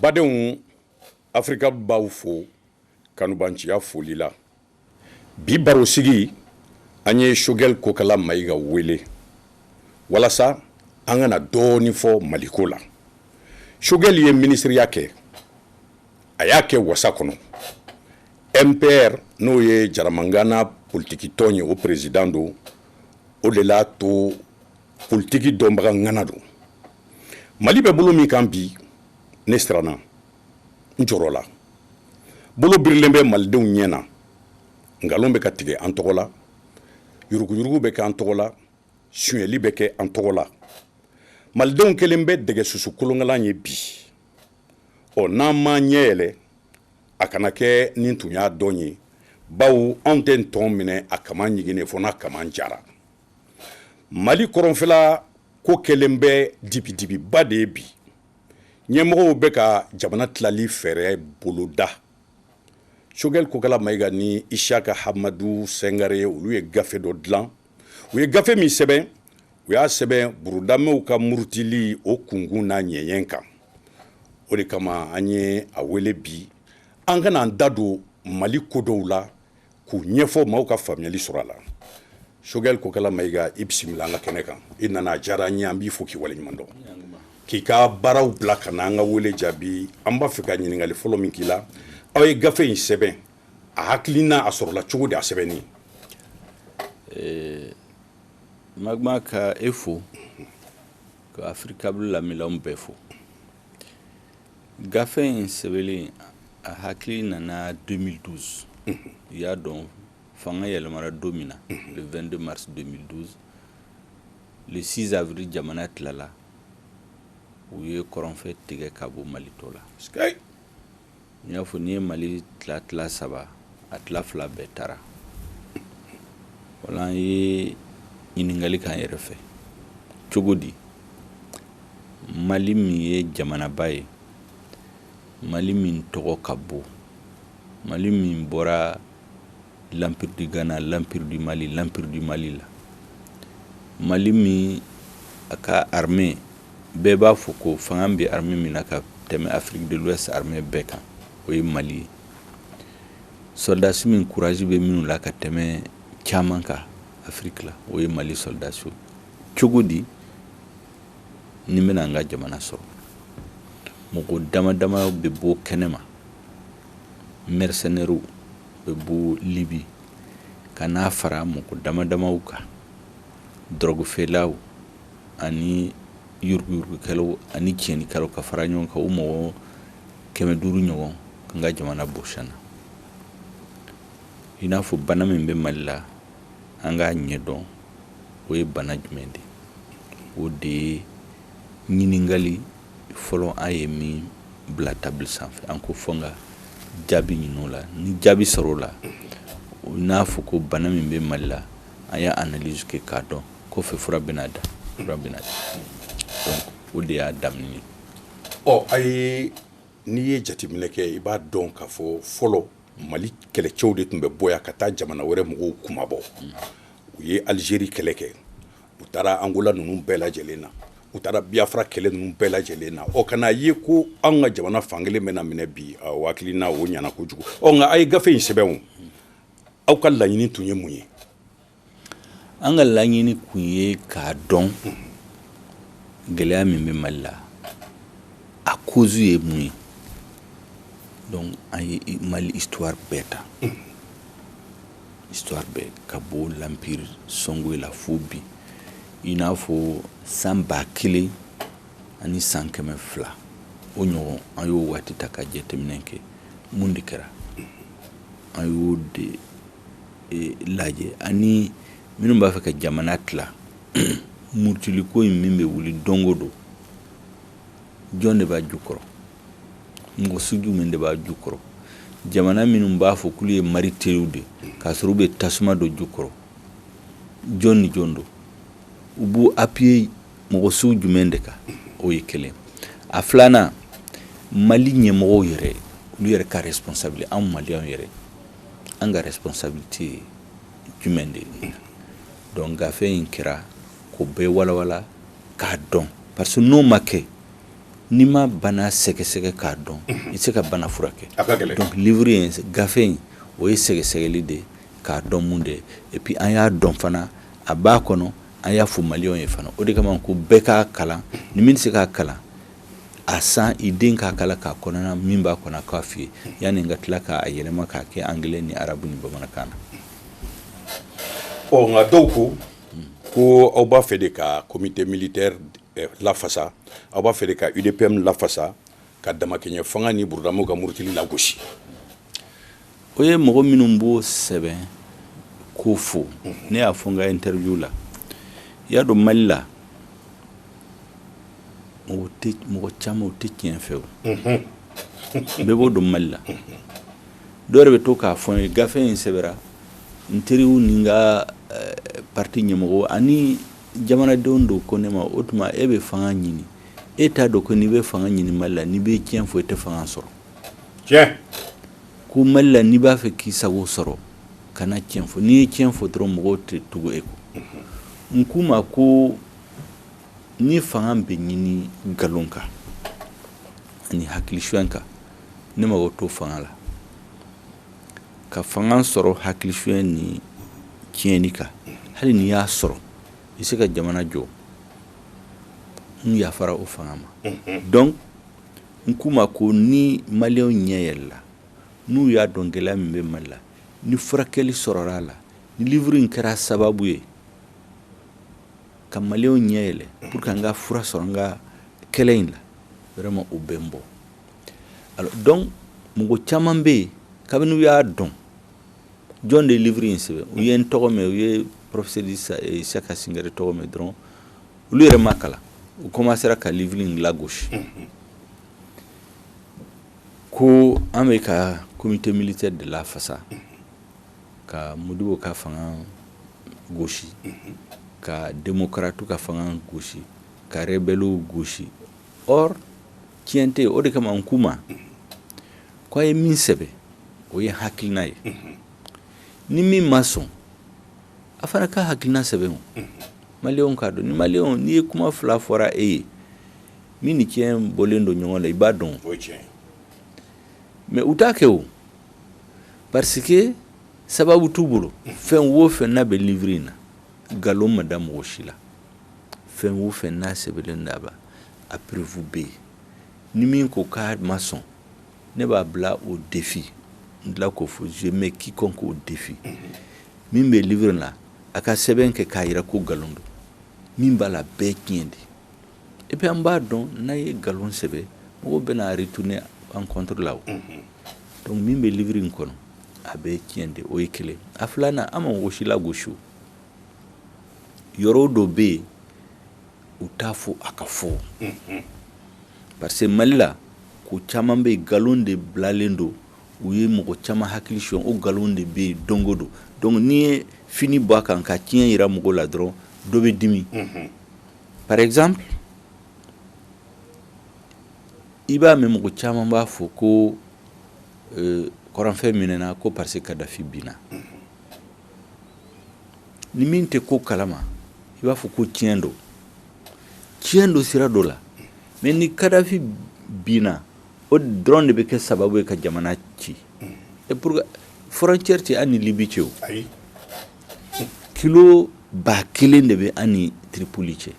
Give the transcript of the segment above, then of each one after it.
Badenw Afrika b'aw fo kanubanciya foli la. Bi barosigi, an ye Choguel Kokala Mayiga wele walasa an ka na dɔɔni fɔ Maliko la. Choguel ye minisiriya kɛ, a y'a kɛ wasa kɔnɔ. MPR n'o ye Jaramangana politikitɔn ye, o president don, o de l'a to politiki dɔnbaga ŋana don mali bɛ bolo min kan bi ne siranna n jɔrɔla bolo birilen bɛ malidenw ɲɛ na nkalon bɛ ka tigɛ an tɔgɔ la yuruguyurugu bɛ kɛ an tɔgɔ la suɲɛli bɛ kɛ an tɔgɔ la malidenw kɛlen bɛ dɛgɛ susu kolonkalan ye bi ɔ n'an m'an ɲɛ yɛlɛ a kana kɛ ni n tun y'a dɔn ye bawo anw tɛ ntɔn minɛ a kaman ɲiginnen fɔ n'a kaman jara mali kɔrɔnfɛla ko kɛlen bɛ dibidibiba de ye bi ɲɛmɔgɔw bɛ ka jamana tilali fɛɛrɛ boloda choguel kokala mayiga ni isiyaka hamadu sɛngare olu ye gafe dɔ dilan u ye gafe min sɛbɛn u y'a sɛbɛn burudamew ka murutili o kunkun n'a ɲɛɲɛ kan o de kama an ye a wele bi an ka na an da don mali ko dɔw la k'u ɲɛfɔ maaw ka faamuyali sɔrɔ a la choguel kokala mayiga i bisimila an ka kɛnɛ kan i nana a diyara an ye an b'i fo k'i waleɲuman dɔn k'i ka baaraw bila ka na an ka wele jaabi an b'a fɛ ka ɲininkali fɔlɔ min k'i la aw ye gafe in sɛbɛn a hakilina a sɔrɔla cogo di a sɛbɛnni eh, magma ka e fo ka africable lamɛnnaw bɛɛ fo gafe in sɛbɛnlen a hakili nana 2012 i y'a dɔn fanga yɛlɛmara don min na le 22 mars 2012 le 6 avril jamana tilala u ye kɔrɔnfɛ tigɛ ka bɔ mali tɔ la n y'a fɔ n'i ye mali tila tila saba a tila fila bɛɛ taara voilà an ye ɲininkali k'an yɛrɛ fɛ cogo di mali min ye jamanaba ye mali min tɔgɔ ka bon mali min bɔra l'empire du ghana l'empire du mali l'empire du mali la mali min a ka armée bɛɛ b'a fɔ ko fanga bɛ armée min na ka tɛmɛ afrique de l'ouest armée bɛɛ kan o ye mali ye sɔrɔdasi min courage bɛ minnu la ka tɛmɛ caman kan afiriki la o ye mali sɔrɔdasi cogo di nin bɛna an ka jamana sɔrɔ mɔgɔ dama dama bɛ bɔ kɛnɛma mercenaires bɛ bɔ libi ka n'a fara mɔgɔ dama damaw kan drogue feerelaw ani yuruguyurugukɛlaw ani tiɲɛnikɛlaw ka fara ɲɔgɔn kan o mɔgɔ kɛmɛ duuru ɲɔgɔn k'an ka jamana bɔsi an na i n'a fɔ bana min bɛ mali la an k'a ɲɛ dɔn o ye bana jumɛn de o de ye ɲininkali fɔlɔ an ye min bila table sanfɛ an ko fo an ka jaabi ɲini o la ni jaabi sɔrɔla i n'a fɔ ko bana min bɛ mali la an y'a analyse kɛ k'a dɔn kɔfɛ fura bɛna da fura bɛna o de y'a daminɛ ɔ ayi n'i ye jateminɛ kɛ i b'a dɔn k'a fɔ fɔlɔ mali kɛlɛcɛw de tun bɛ bɔ yan ka taa jamana wɛrɛ mɔgɔw kunmabɔ u ye alizeri kɛlɛ kɛ u taara angola ninnu bɛɛ lajɛlen na u taara biafra kɛlɛ ninnu bɛɛ lajɛlen na ɔ ka n'a ye ko an ka jamana fan kelen bɛna minɛ bi aw hakilina o ɲɛna kojugu ɔ nka a ye gafe in sɛbɛn aw ka laɲini tun ye mun ye an ka laɲini kun ye k'a dɔn gɛlɛya min bɛ mali la a cause ye mun ye donc an ye mali histoire bɛɛ ta histoire bɛɛ ka bɔ l'empire songhoï la fo bi i n'a fɔ san ba kelen ani san kɛmɛ fila o ɲɔgɔn an y'o waati ta ka jateminɛ kɛ mun de kɛra an y'o de lajɛ ani minnu b'a fɛ ka jamana tila murutiliko in min bɛ wuli don o don jɔn de b'a jukɔrɔ mɔgɔ sugu min de b'a jukɔrɔ jamana minnu b'a fɔ k'olu ye mali teriw de k'a sɔrɔ u bɛ tasuma don jukɔrɔ jɔn ni jɔn don u b'u appuyer mɔgɔ sugu jumɛn de kan o ye kelen a filanan mali ɲɛmɔgɔw yɛrɛ olu yɛrɛ ka responsabilité anw maliens yɛrɛ an ka responsabilité ye jumɛn de ye donc gafe in kɛra k'o bɛɛ walawala k'a dɔn parce que n'o ma kɛ n'i ma bana sɛgɛsɛgɛ k'a dɔn i tɛ se ka bana furakɛ donc livre in gafe in o ye sɛgɛsɛgɛli de ye k'a dɔn mun de ye et puis an y'a dɔn fana a b'a kɔnɔ an y'a fɔ maliyɛnw ye fana o de kama ko bɛɛ k'a kalan ni min tɛ se k'a kalan a san i den k'a kalan k'a kɔnɔna min b'a kɔnɔ k'a f'i ye yanni an ka tila k'a yɛlɛma k'a kɛ angilɛ ni arabu ni bamanankan na ɔ nka dɔw ko ko aw b'a fɛ de ka comité militaire eh, lafasa aw b'a fɛ de ka udpm lafasa ka damakɛɲɛ fanga ni burudamaw ka murutili lagosi o ye mɔgɔ minnu b'o sɛbɛn k'o fɔ ne y'a fɔ n ka interview la i y'a dɔn mali la mɔgɔ tɛ mɔgɔ caman o tɛ tiɲɛ fɛ o bɛɛ b'o dɔn mali la dɔw yɛrɛ bɛ to k'a fɔ n ye gafe in sɛbɛra n teriw ni n ka eh, parti ɲɛmɔgɔ ani jamanadenw dɔw ko ne ma o tuma e bɛ fanga ɲini e t'a dɔn ko n'i bɛ fanga ɲini mali la n'i bɛ tiɲɛ fɔ i tɛ fanga sɔrɔ cɛn ko mali la n'i b'a fɛ k'i sago sɔrɔ kana cɛn fɔ n'i ye cɛn fɔ dɔrɔn mɔgɔw tɛ tugu e kɔ n k'u ma ko ni fanga bɛ ɲini nkalon kan ani hakili suɲɛ kan ne mago t'o fanga la ka fanga sɔrɔ hakili suɲɛ ni tiɲɛni kan hali n'i y'a sɔrɔ i se ka jamana jɔ n yafara o fanga ma donc n k'u ma ko ni maliyɛnw ɲɛ yɛlɛla n'u y'a dɔn gɛlɛya min bɛ mali la ni furakɛli sɔrɔla a la ni livre in kɛra sababu ye ka maliyɛnw ɲɛ yɛlɛ pour que an ka fura sɔrɔ an ka kɛlɛ in la vraiment o bɛ n bɔ donc mɔgɔ caman bɛ yen kabini u y'a dɔn jɔn de ye livre in sɛbɛn u ye n tɔgɔ mɛn u ye professeur isaka singare tɔgɔ mɛn dɔrɔn olu yɛrɛ m'a kalan u kɔmansera ka livre in lagosi ko an bɛ ka comité militaire de lafasa ka modibo ka fanga gosi ka démocratew ka fanga gosi ka rebellew gosi or tiɲɛ tɛ o de kama n k'u ma ko an ye min sɛbɛn o ye hakilina ye ni min ma sɔn a fana ka hakilina sɛbɛn maliyɛnw k'a dɔn ni mali n'i ye kuma fila fɔra e ye min ni cɛn bɔlen don ɲɔgɔn la i b'a dɔn mais u t'a kɛ o parce que sababu t'u bolo fɛn wo fɛn n'a bɛ livre in na nkalon ma da mɔgɔ si la fɛn wo fɛn n'a sɛbɛnlen b'a la a preuve bɛ yen ni min ko k'a ma sɔn ne b'a bila au défi n tila k'o fɔ je mets quiconque au défi min bɛ livre la a ka sɛbɛn kɛ k'a jira ko nkalon don min b'a la bɛɛ tiɲɛ de et puis an b'a dɔn n'an ye nkalon sɛbɛn mɔgɔw bɛna a retourner an contre la donc min bɛ livre in kɔnɔ a bɛɛ tiɲɛ de o ye kelen a filanan an ma mɔgɔ si lagosi yɔrɔ dɔ bɛ yen u t'a fɔ a ka fɔ parce que mali la ko caman bɛ nkalon de bilalen don u ye mɔgɔ caman hakili son o nkalon de bɛ don go don donc n'i ye fini bɔ a kan ka tiɲɛ jira mɔgɔ la dɔrɔn dɔ bɛ dimi par exemple i b'a mɛn mɔgɔ caman b'a fɔ ko kɔrɔnfɛ minɛna ko parce que kadafi binna ni min tɛ ko kalama i b'a fɔ ko tiɲɛ don tiɲɛ don sira dɔ la mais ni kadafi binna o dɔrɔn de bɛ kɛ sababu ye ka jamana ci et pourtant frontière tɛ an ni libi cɛ o kilo ba kelen de bɛ an ni tiripoli cɛ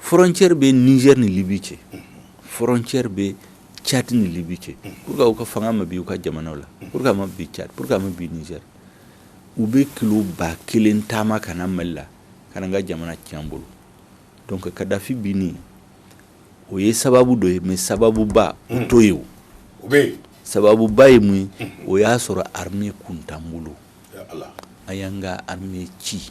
frontière bɛ nizɛri ni libi cɛ frontière bɛ cadi ni libi cɛ pourquoi u ka fanga ma bin u ka jamana la pourquoi ma bin cadi pourquoi ma bin nizɛri u bɛ kilo ba kelen taama ka na mali la ka na an ka jamana ci an bolo donc kadafi binni o ye sababu dɔ ye mais sababuba t'o ye o bɛɛ sababuba ye mun o y'a sɔrɔ armée kun t'an bolo an y'an ka ci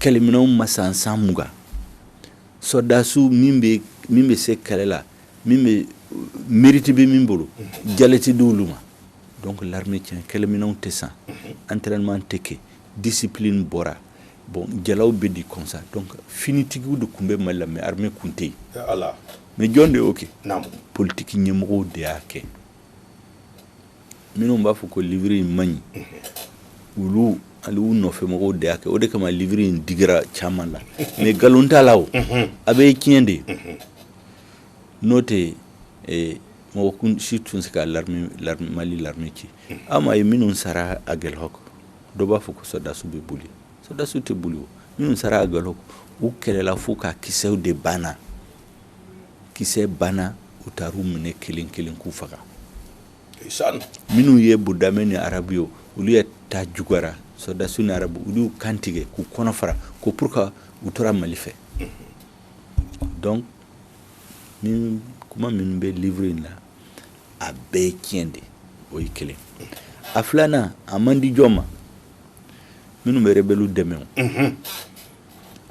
kɛlɛminɛnw ma san san mugan sɔrɔdasiw min bɛ se kɛlɛ la min bɛ mérite bɛ min bolo jala tɛ di olu ma donc l'armée tiɲɛ kɛlɛminɛnw tɛ san entraînement tɛ kɛ discipline bɔra bon jalaw bɛ di comme ça donc finitigiw de tun bɛ mali la mais armée kun tɛ yen mais jɔn de y'o kɛ politiki ɲɛmɔgɔw de y'a kɛ minnu b'a fɔ ko livre in man ɲi olu hali u nɔfɛmɔgɔw de y'a kɛ o de kama livre in digira caman la mais nkalon t'a la o a bɛɛ tiɲɛ de n'o tɛ eh, mɔgɔ kun si tun tɛ se ka l'armée l'armée mali l'armée ci aw ma ye minnu sara aguelhok dɔ b'a fɔ ko sɔrɔdasiw bɛ boli sɔrɔdasiw tɛ boli o minnu sara aguelhok u kɛlɛla fo ka kisɛw de banna kisɛ banna u taar'u minɛ kelen kelen k'u faga minnu ye burudamɛ ni arabu ye olu de ta juguyara sɔrɔdasiw ni arabu olu y'u kan tigɛ k'u kɔnɔ fara ko pourquoi u tora mali fɛ donc nin kuma minnu bɛ livre in na a bɛɛ ye tiɲɛ de o ye kelen a filanan a man di jɔn ma minnu bɛ rebɛliw dɛmɛ o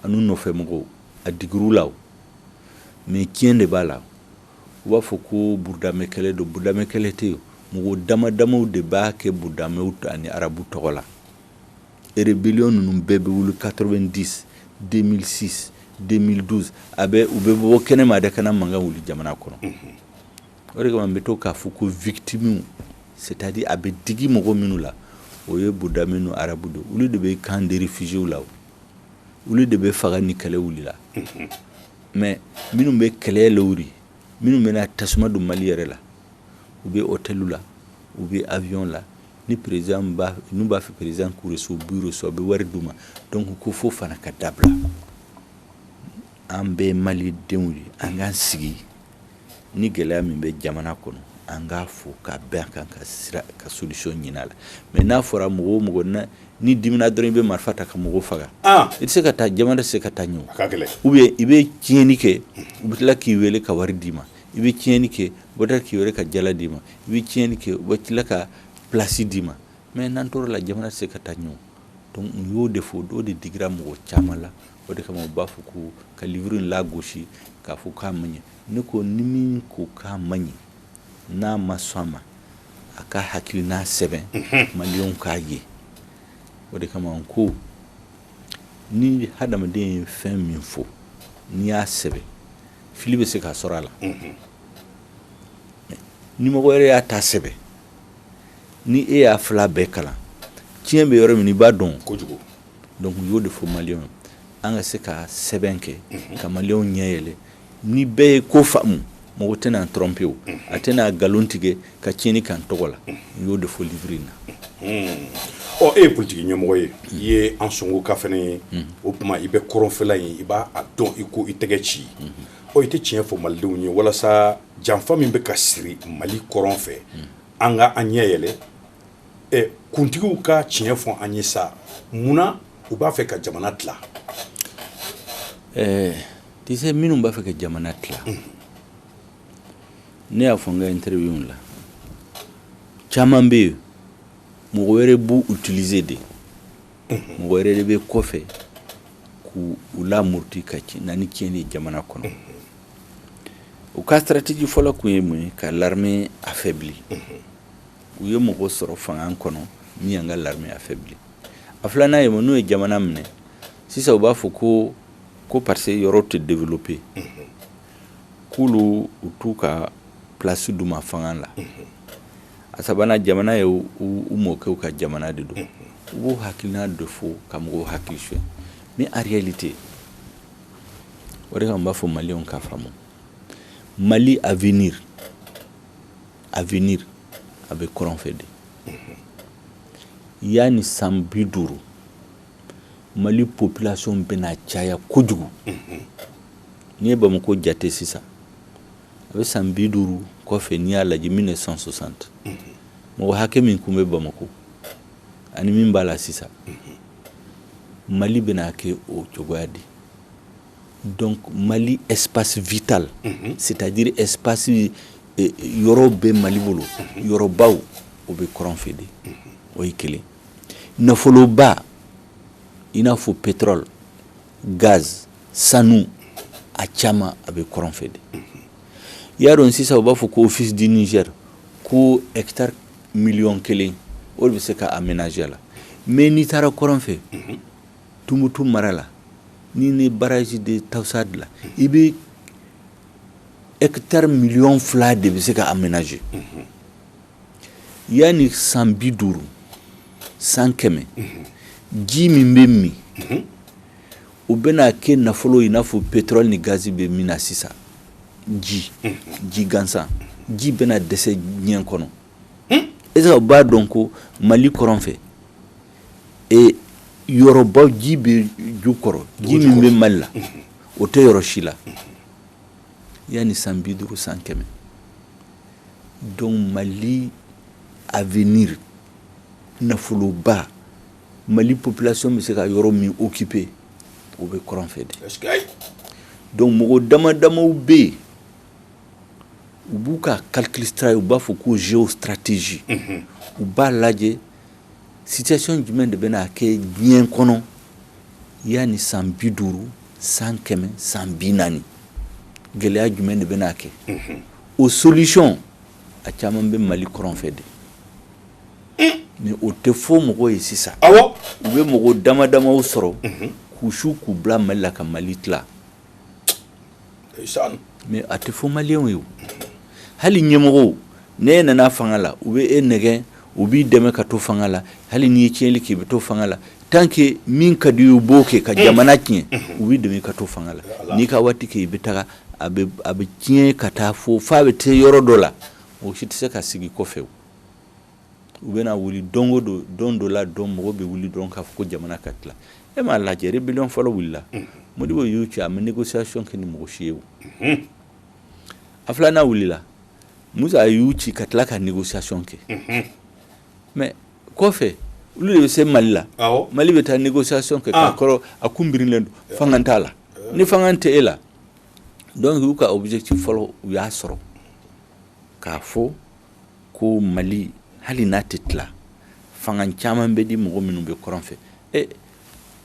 an'u nɔfɛmɔgɔw a digir'u la o mais tiɲɛ de b'a la u b'a fɔ ko burudamɛ kɛlɛ don burudamɛ kɛlɛ tɛ yen mɔgɔ damadamaw de b'a kɛ burudamɛw ani arabu tɔgɔ la rébellion ninnu bɛɛ bɛ wuli 90 2006 2012 a bɛ u bɛ bɔ kɛnɛma de ka na mankan wuli jamana kɔnɔ mhm. o de kama n bɛ to k'a fɔ ko victimew c'est à dire a bɛ digi mɔgɔ minnu la o ye burudamɛ ni arabu de olu de bɛ camp de réfugiéw la o olu de bɛ faga ni kɛlɛ wulila mais minnu bɛ kɛlɛ lawuli minnu bɛna tasuma don mali yɛrɛ la u bɛ hôtel la u bɛ avion la ni président n'u b'a fɛ président k'u reçu b'u reçu a bɛ wari d'u ma donc ko fo fana ka dabila an bɛ mali denw ye an k'an sigi ni gɛlɛya min bɛ jamana kɔnɔ an k'a fɔ ka bɛn kan ka sira ka solution ɲinin a la mais n'a fɔra mɔgɔ o mɔgɔ ni dimina dɔrɔn i bɛ marifa ta ka mɔgɔw faga i tɛ se ka taa jamana tɛ se ka taa ɲɛ ou bien i bɛ tiɲɛni kɛ u bɛ tila k'i weele ka wari d'i ma i bɛ tiɲɛni kɛ u tila k'i weele ka jala d'i ma i bɛ tiɲɛni kɛ u tila ka place d'i ma mais n'an tora o la jamana tɛ se ka taa ɲɛ donc n y'o de fɔ o don de digira mɔgɔ caman la o de kama u b'a fɔ ko ka livre in lagosi k'a fɔ k'a man ɲi ne ko ni min ko k'a man ɲi n'a ma sɔn a ma a ka hakilina sɛbɛn maliyɛnw k'a ye o de kama n ko ni hadamaden ye fɛn min fɔ n'i y'a sɛbɛn fili bɛ se ka sɔrɔ a la ni mɔgɔ yɛrɛ y'a ta sɛbɛn ni e y'a fila bɛɛ kalan tiɲɛ bɛ yɔrɔ min i b'a dɔn kojugu Donc u y'o de fɔ maliyɛnw ye an ka se ka sɛbɛn kɛ ka maliyɛnw ɲɛ yɛlɛ ni bɛɛ ye ko faamu mɔgɔ tɛna an tromper o a tɛna nkalon tigɛ ka tiɲɛni k'an tɔgɔ la u y'o de fɔ livre in na. Ɔ e ye politiki ɲɛmɔgɔ ye i ye Ansongoka fana ye o tuma i bɛ kɔrɔnfɛla in i b'a dɔn i ko i tɛgɛ ci ɔ i tɛ tiɲɛ fɔ malidenw ye walasa janfa min bɛ ka siri mali kɔrɔn fɛ an ka an ɲɛ yɛlɛ kuntigiw ka tiɲɛ fɔ an ye sa munna u b'a fɛ ka jamana tila ɛɛ tu sais minnu b'a fɛ ka jamana tila ne y'a fɔ n ka interview la caman bɛ yen mɔgɔ wɛrɛ b'u utiliser de mɔgɔ wɛrɛ de bɛ kɔfɛ k'u u lamurti ka na ni tiɲɛni ye jamana kɔnɔ u ka stratégie fɔlɔ kun ye mun ye ka l'armée affaibli u ye mɔgɔ sɔrɔ fanga kɔnɔ min y'an ka l'armée affaibli a filanan ye mun n'u ye jamana minɛ sisan u b'a fɔ ko ko parce que yɔrɔ tɛ développer mhm. k'olu u t'u ka place d'u ma fanga la mhm. a sabanan jamana ye u mɔkɛw ka jamana de don mhm. u b'o hakilina de fɔ ka mɔgɔw hakili suɲɛ mais en réalité o de kama n b'a fɔ maliyɛnw k'a faamu mali avenir avenir a bɛ kɔrɔn fɛ de yan ni san bi duuru mali population bɛna caya kojugu n'i ye bamakɔ jate sisan a bɛ san bi duuru kɔfɛ n'i y'a lajɛ mille neuf cent soixante mɔgɔ hakɛ min tun bɛ bamakɔ ani min b'a la sisan mali bɛna kɛ o cogoya de Donc mali espace vital c'est-à-dire espace yɔrɔ bɛ mali bolo yɔrɔbaw o bɛ kɔrɔn fɛ de o ye kelen nafoloba i n'a fɔ pétrole gaz sanu a caman a bɛ kɔrɔn fɛ de i y'a dɔn sisan u b'a fɔ ko office du Niger ko hectare miliyɔn kelen o de bɛ se ka aménager la mais n'i taara kɔrɔn fɛ Tumutu mara la n'i ye barrage de Taoussa dilan i bɛ hectare miliyɔn fila de bɛ se ka aménager yan ni san bi duuru san kɛmɛ ji min bɛ min o bɛna kɛ nafolo i n'a fɔ pétrole ni gazi bɛ min na sisan ji ji gansan ji bɛna dɛsɛ diɲɛ kɔnɔ est-ce u b'a dɔn ko mali kɔrɔn fɛ yɔrɔbaw ji bɛ jukɔrɔ ji min bɛ mali la o tɛ yɔrɔ si la yan ni san bi duuru san kɛmɛ donc mali avenir nafoloba mali population bɛ se ka yɔrɔ min occuper o bɛ kɔrɔn fɛ de donc mɔgɔ dama damaw bɛ yen u b'u ka calcul stra u b'a fɔ ko géostratégie u b'a lajɛ situation jumɛn de bɛna kɛ diɲɛ kɔnɔ yan ni san bi duuru san kɛmɛ san bi naani gɛlɛya jumɛn de bɛna kɛ o solution a caman bɛ mali kɔrɔn fɛ de mais o tɛ fɔ mɔgɔ ye sisan u bɛ mɔgɔ dama damaw sɔrɔ k'u su k'u bila mali la ka mali tila mais a tɛ fɔ maliyɛnw ye hali ɲɛmɔgɔw n'e nana fanga la u bɛ e nɛgɛn u b'i dɛmɛ ka to fanga la hali n'i ye tiɲɛnli k'i bɛ to fanga la tant que min ka di u b'o kɛ ka jamana tiɲɛ u b'i dɛmɛ ka to fanga la n'i ka waati kɛ i bɛ taa a bɛ tiɲɛ ka taa fo fo a bɛ taa yɔrɔ dɔ la o si tɛ se ka sigi kɔfɛ u bɛna wuli don o don don dɔ la dɔn mɔgɔw bɛ wuli dɔrɔn k'a fɔ ko jamana ka tila e m'a lajɛ rébellion fɔlɔ wulila modibo y'u ci a ma négociation kɛ ni mɔgɔ si ye o a filanan wulila musa y'u ci ka tila ka négociation kɛ mais kɔfɛ olu de bɛ se mali la mali bɛ taa négociation kɛ k'a kɔrɔ a kun birilen don fanga t'a la ni fanga tɛ e la donc u y'u ka objectif fɔlɔ u y'a sɔrɔ k'a fɔ ko mali hali n'a tɛ tila fanga caman bɛ di mɔgɔ minnu bɛ kɔrɔn fɛ e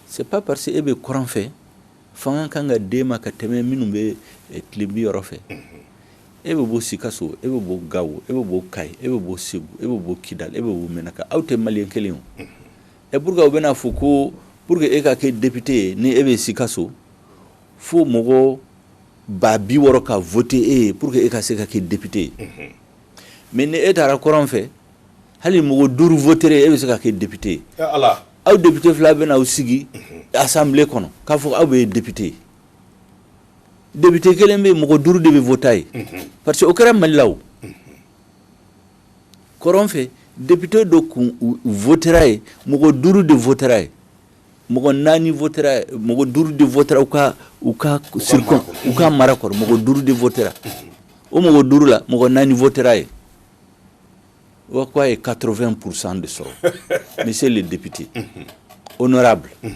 c'est pas parce que e bɛ kɔrɔn fɛ fanga kan ka d'e ma ka tɛmɛ minnu bɛ tilebin yɔrɔ fɛ e bɛ bɔ sikaso e bɛ bɔ gawo e bɛ bɔ kayi e bɛ bɔ segu e bɛ bɔ kidal e bɛ bɔ menaka aw tɛ maliyɛn kelen o et pourquoi u bɛna fɔ ko pour que e ka kɛ député ye ni e bɛ sikaso fo mɔgɔ ba bi wɔɔrɔ ka voter e ye pour que e ka se ka kɛ député ye mais ni e taara kɔrɔn fɛ hali mɔgɔ duuru votera e ye e bɛ se ka kɛ député ye aw député fila bɛna aw sigi assemblée kɔnɔ k'a fɔ aw bɛɛ ye député ye député kelen bɛ mɔgɔ duuru de bɛ voter a ye parce que o kɛra mali la o kɔrɔn fɛ député dɔ kun votera ye mɔgɔ duuru de votera ye mɔgɔ naani mɔgɔ duuru de u ka u ka u ka mara kɔrɔ mɔgɔ duuru de o mɔgɔ duuru la mɔgɔ naani fɔ ye o k' a ye katoorofɛn psan de sɔrɔ n se de debite o n nɔgɔya bila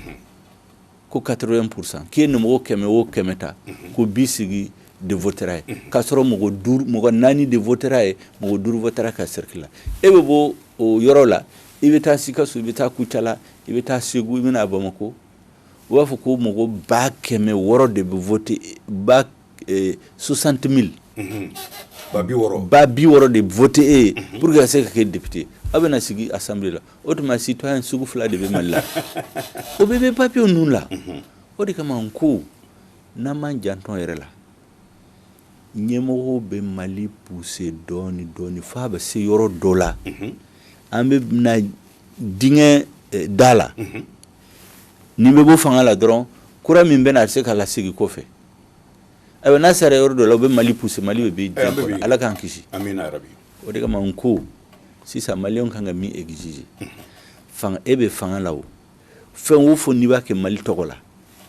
ko katorofɛn psan k'i ye nin mɔgɔ kɛmɛ o kɛmɛ ta ko bi sigi de ye k'a sɔrɔ mɔgɔ naani de ye mɔgɔ duuru ka siriki la e bɛ bɔ o yɔrɔ la i bɛ taa sikaso i bɛ taa kucala i bɛ taa segu i bɛ na bamakɔ u b'a fɔ ko mɔgɔ ba kɛmɛ wɔɔrɔ de bɛ voter ba e, soixante mille mhm. ba bi wɔɔrɔ de voter e ye mhm. pour que e ka se ka kɛ député aw bɛna sigi assemblée la o tuma citoyen sugu fila de bɛ mali la o bɛɛ bɛ papier ninnu la mhm. o de kama n ko n'an m'an janto an yɛrɛ la ɲɛmɔgɔw bɛ mali pousser dɔɔnin dɔɔnin f'a bɛ se yɔrɔ dɔ la an bɛ na dingɛ da la nin bɛ bɔ fanga la dɔrɔn kura min bɛ na a se ka lasegin kɔfɛ ayiwa n'a sera yɔrɔ dɔ la u bɛ mali pousser mali bɛ ala k'an kisi o de kama n ko sisan maliyɛnw ka kan ka min exiger e bɛ fanga la fɛn o fɛn n'i b'a kɛ mali tɔgɔ la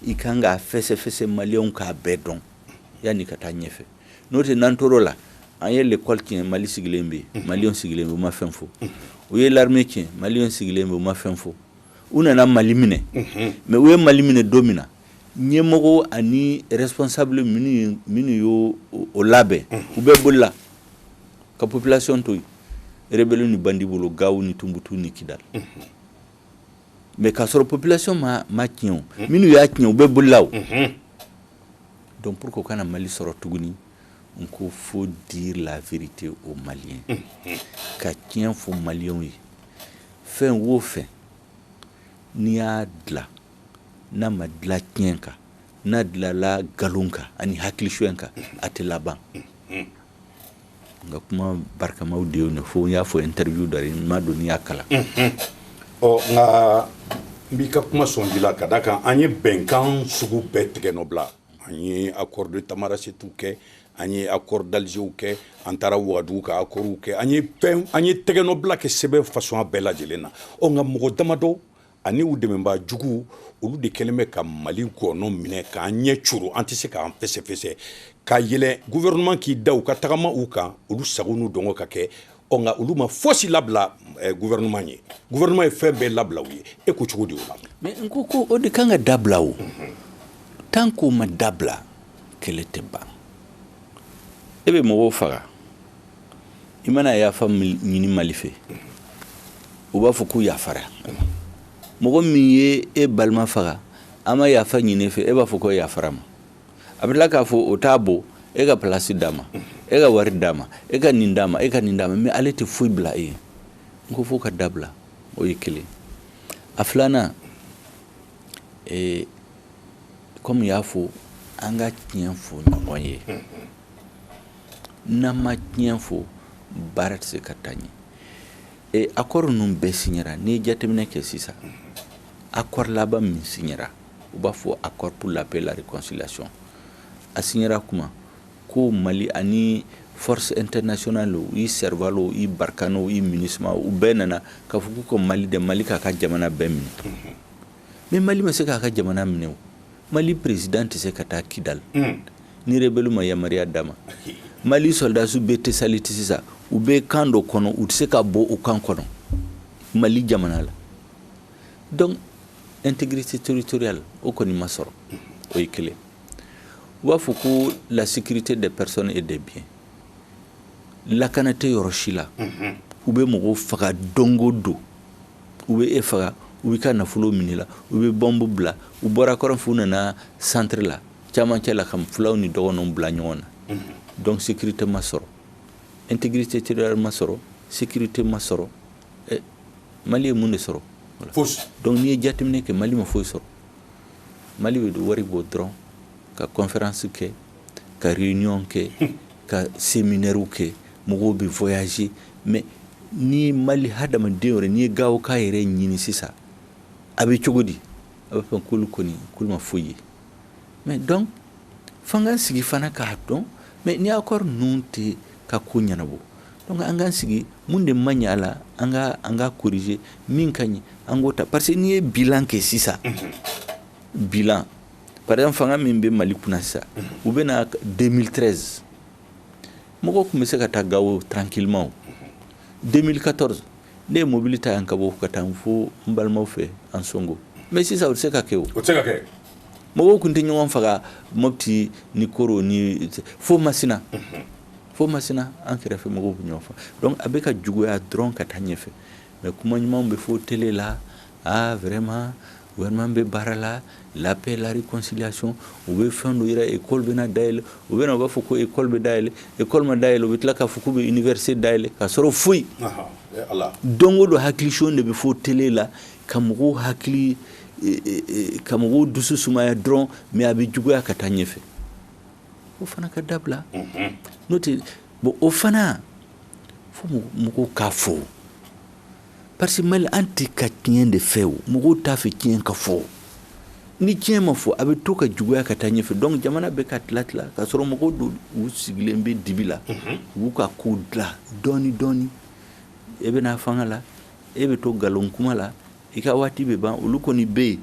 i ka kan k'a fɛsɛfɛsɛ maliyɛnw k'a bɛɛ dɔn yann'i ka taa ɲɛfɛ n'o tɛ n'an tor'o la an ye lekɔli tiɲɛ mali sigilen bɛ yen maliyɛnw sigilen bɛ u ma fɛn fɔ u ye l'armée tiɲɛ maliyɛnw sigilen bɛ u ma fɛn fɔ u nana mali minɛ mais u ye mali minɛ don min na ɲɛmɔgɔ ani responsable minnu y' o labɛn u bɛɛ bolila ka population to yen rebelle ni bandi bolo gawo ni tunbutu ni kidal mais k'a sɔrɔ population m'a tiɲɛ o minnu y'a tiɲɛ u bɛɛ bolila o donc pour que o kana mali sɔrɔ tuguni n ko faut dire la vérité aux maliens ka tiɲɛ fɔ maliyɛn ye fɛn o fɛn n'i y'a dilan n'a ma dilan tiɲɛ kan n'a dilanla nkalon kan ani hakili suɲɛ kan a tɛ laban Nka kuma barikamaw de ye fo n y'a fɔ interview dɔ n m'a dɔn n'i y'a kalan ɔ nka n b'i ka kuma sɔn ji la ka d'a kan an ye bɛnkan sugu bɛɛ tɛgɛnɔbila an ye accord de tamanrassetw kɛ an ye accord d'algerw kɛ an taara wagadugu ka accordw kɛ an ye tɛgɛnɔbila kɛ sɛbɛn façon bɛɛ lajɛlen na ɔ nka mɔgɔ damadɔ ani u dɛmɛbaa jugu olu de kɛlen bɛ ka mali ngɔnɔ minɛ k'an ɲɛ coron an tɛ se k'an fɛsɛfɛsɛ ka yɛlɛn gouvernement k'i da u ka tagama u kan olu sago n'u dungɔ ka kɛ ɔ nka olu ma fosi labila eh, gouvernement ye gouvernement ye fɛn bɛɛ labila u ye e ko cogo di o la mais n ko ko o de kan ka dabila o tant qu'o ma dabila kɛlɛ tɛ ban e bɛ mɔgɔw faga i mana yafa ɲini mali fɛ u b'a fɔ ko yafara mɔgɔ min ye e balima faga a ma yafa ɲin'i fɛ e b'a fɔ ko yafar'a ma a bɛ tila k'a fɔ o t'a bɔ e ka place d'a ma e ka wari d'a ma e ka nin d'a ma e ka nin d'a ma mais ale tɛ foyi bila e ye n ko f'o ka dabila o ye kelen a filanan kɔm'i y'a fɔ an ka tiɲɛ fɔ ɲɔgɔn ye n'an ma tiɲɛ fɔ baara tɛ se ka taa ɲɛ e accord ninnu bɛɛ siɲɛra n'i ye jateminɛ kɛ sisan accord laban min siɲɛra u b'a fɔ accord pour la paix et la réconciliation a siɲɛra kuma ko mali ani force internationale o i serval o i barkhane o i minusma u bɛɛ nana k'a fɔ k'u ka mali dɛ mali k'a ka jamana bɛɛ minɛ Mais mali ma se k'a ka jamana minɛ o mali président tɛ se ka taa kidali ni rebelle ma yamaruya d'a ma mali sɔrɔdasiw bɛ tessalit sisan u bɛ camp dɔ kɔnɔ u tɛ se ka bɔ o camp kɔnɔ mali jamana la donc intégrité territoriale o kɔni ma sɔrɔ o ye kelen u b'a fɔ ko la sécurité des personnes et des biens lakana tɛ yɔrɔ si la u bɛ mɔgɔw faga don o don u bɛ e faga u bɛ ka nafolo minɛ i la u bɛ bɔnbu bila u bɔra kɔrɔn fɛ u nana centre la camancɛ la ka fulaw ni dɔgɔnɔw bila ɲɔgɔn na donc sécurité ma sɔrɔ intégrité territoriale ma sɔrɔ sécurité ma sɔrɔ mali ye mun de sɔrɔ donc n'i ye jateminɛ kɛ mali ma foyi sɔrɔ mali bɛ wari bɔ dɔrɔn ka conférence kɛ ka réunion kɛ ka séminaire kɛ mɔgɔw bɛ voyager mais ni Mali hadamaden yɛrɛ n'i ye Gawokaw yɛrɛ ɲini sisan a bɛ cogo di a b'a fɔ k'olu kɔni k'olu ma foyi ye mais donc f'an k'an sigi fana k'a dɔn mais ni accord ninnu tɛ ka ko ɲɛnabɔ donc an k'an sigi mun de man ɲi a la an ka an ka corriger min ka ɲi an k'o ta parce que n'i ye bilan kɛ sisan bilan par exemple fanga min bɛ Mali kunna sisan u bɛ na 2013 mɔgɔ tun bɛ se ka taa gawo tranquillement 2014 ne ye mobili ta yan ka bɔ ka taa fo n balimaw fɛ ansongo mais sisan o tɛ se ka kɛ mɔgɔw tun tɛ ɲɔgɔn faga mopti ni koro ni fo masina fo masina an kɛrɛfɛ mɔgɔw bɛ ɲɔgɔn faga donc a bɛ ka juguya dɔrɔn ka taa ɲɛfɛ Mais kuma ɲuman bɛ fɔ télé la aa vraiment gouvernement bɛ baara la la paix la réconciliation u bɛ fɛn dɔ yira école bɛna dayɛlɛ u bɛ u b'a fɔ ko école bɛ dayɛlɛ école ma dayɛlɛ u bɛ tila k'a fɔ u bɛ université dayɛlɛ ka sɔrɔ foyi don o don hakilicon de bɛ fɔ télé la ka mɔgɔw hakili ka mɔgɔw dusu sumaya dɔrɔn mais a bɛ juguya ka taa ɲɛfɛ o fana ka dabila n'o tɛ bon o fana fo mɔgɔw k'a fɔ parce que mali an tɛ ka tiɲɛ de fɛ o mɔgɔw t'a fɛ tiɲɛ ka fɔ ni tiɲɛ ma fɔ a bɛ to ka juguya ka taa ɲɛfɛ donc jamana bɛ ka tila tila ka sɔrɔ mɔgɔ dɔw u sigilen bɛ dibi la u b'u ka ko dilan dɔɔni dɔɔni e bɛ na fanga la e bɛ to nkalon kuma la i ka waati bɛ ban olu kɔni bɛ yen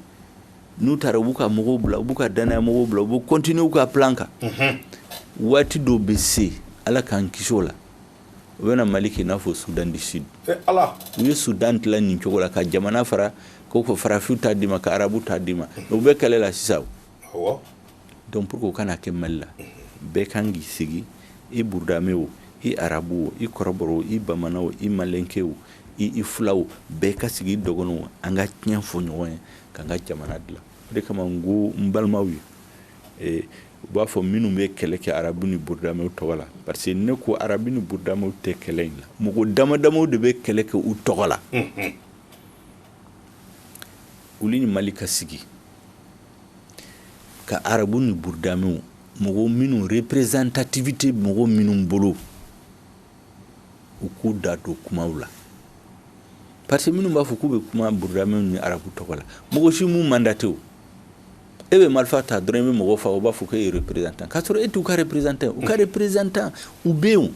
n'u taara u b'u ka mɔgɔw bila u b'u ka danaya mɔgɔw bila u bɛ continuer u ka plan kan unhun waati dɔ bɛ se Ala k'an kisi o la u bɛna Mali kɛ i n'a fɔ Soudan du Sud ee Ala u ye Soudan dilan nin cogo la ka jamana fara ko ko farafinw ta d'i ma ka arabuw ta d'i ma mais u bɛ kɛlɛ la sisan o awɔ donc pour que o kana kɛ Mali la bɛɛ kan k'i sigi i burudame o i arabu o i kɔrɔbɔrɔ o i bamanan o i malɛnke o i i fula o bɛɛ ka sigi i dɔgɔnɔ o an ka tiɲɛ fɔ ɲɔgɔn ye k'an ka jamana dilan o de kama n ko n balimaw ye u b'a fɔ minnu bɛ kɛlɛ kɛ arabu ni burudamew tɔgɔ la parce que ne ko arabu ni burudamew tɛ kɛlɛ in la mɔgɔ damadamaw de bɛ kɛlɛ kɛ u tɔgɔ la u ni mali ka sigi ka arabu ni burudamew mɔgɔ minnu représentativité mɔgɔ minnu bolo u k'u da don kuma la parce que minnu b'a fɔ k'u bɛ kuma burudamɛw ni arabu tɔgɔ la mɔgɔ si m'u mandaté e bɛ marifa ta dɔrɔn i bɛ mɔgɔ faa u b'a fɔ k'e ye représentant k'a sɔrɔ e t'u ka représentant u ka représentant u bɛ yen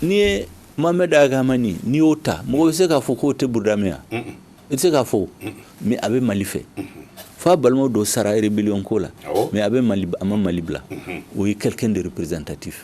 n'i ye Mohamed Ag Hamani n'i y'o ta mɔgɔ bɛ se k'a fɔ k'o tɛ burudamɛ ye i tɛ se k'a fɔ mais a bɛ mali fɛ f'a balimaw dɔw sara rebelle ko la mais a bɛ mali a ma mali bila o ye quelqu'un de représentatif